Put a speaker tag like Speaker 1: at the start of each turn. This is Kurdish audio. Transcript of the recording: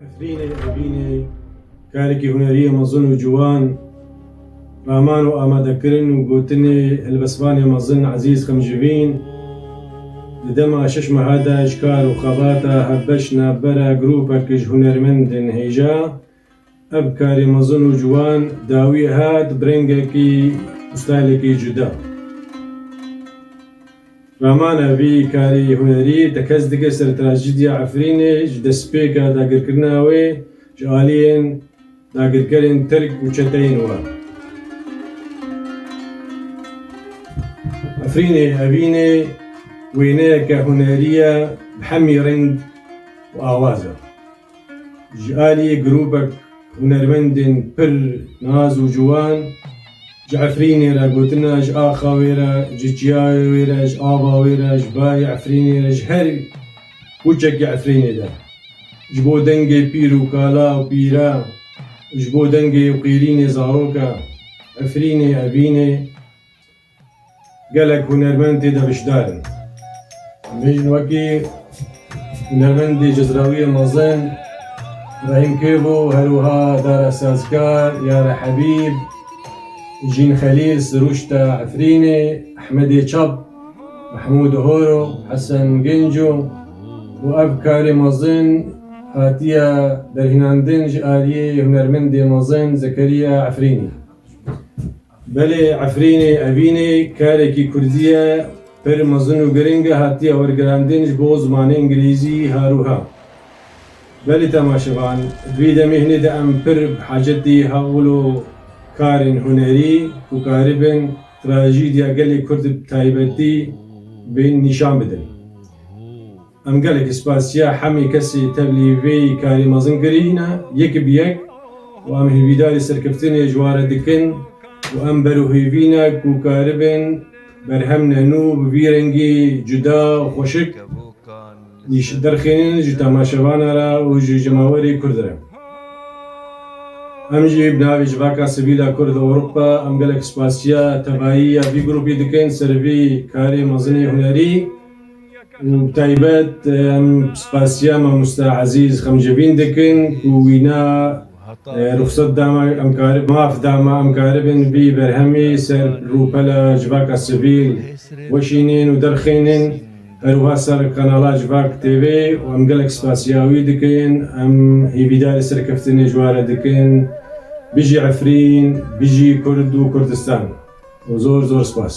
Speaker 1: Efrînê Evînê karekî hunerîyê mezin û ciwan raman û amadekirin û gotinê helbestvanê mezin Ezîz Xemjivîn di dema şeş meha de ji kar û xebata hevbeş navbera grûpek ji hunermendên hêja Ev karê mezin û ciwan dawî hat bi rengekî û stylekî cuda. Ramana vî karê hunerî te kes dike ser trajîdya Efrînê ji destpêka dagirkirina wê ji aliyên dagirkerên Tirk û çeteyên wan. Efrînê Evînê wêneyeke hunerî ye bi hemî reng û awaz e. Ji aliyê grûpek hunermendên pir nas û ciwan ji Efrînê re gotina ji axa wê re, ji çiyayê wê re, ji ava wê re, ji bayê Efrînê re ji her kûçekê Efrînê de ji bo dengê pîr û kala û pîra û ji bo dengê û qîrînê zaroka Efrînê, Evînê, Gelek hunermend tê de beşdar in. Em bêjin wekî hunermendê cezrawiyê mezin Rahîm Kêbo û her wiha Dara Sazkar, Yara Hebîb, Jîn Xelîl, Sirûşta Efrînê, Ehmedê Çap, Mehmûd Horo, Hesen Genco û ev karê mezin hatiye derhînandin ji aliyê hunermendê mezin Zekeriya Efrînê. Belê Efrînê Evînê kerekî kurdî ye pir mezin û giring e hatiye wergirandin ji bo zimanê îngilîzî herûha. Belê temaşevan vî demê hinê de em pir bi hacetî hewlo karên hunerî ku karibin trajîdya gelê kurd bi taybetî bên nîşan bidin. Em gelekî spasiya hemî kesî tevlî vî karî mezin kirîne yek bi yek û em hîvîdarî serkeftinê ji ware dikin û em ber û hîvîne ku karibin berhem ne nû bi vî rengî cuda û xweşik nîş derxînin ji temaşevana re û ji cemawerî kurd re. Em jî bi navê Civaka Sivîla Kurd li Ewropa em gelek spasiya tevayî ya vî grûpî dikin ser vî karê mezinê hunerî. Bi taybet em spasiya mamoste Ezîz Xemcivîn dikin ku wîna ruxsat da me em karibin maf da me em karibin vî berhemî ser rûpela civaka sivîl weşînin û derxînin her wiha ser kanala Civak TV û em gelek spasiya wî dikin em hîvîdarê serkeftinê ji were dikin Bijî Efrîn, Bijî Kurd û Kurdistan û zor zor spas.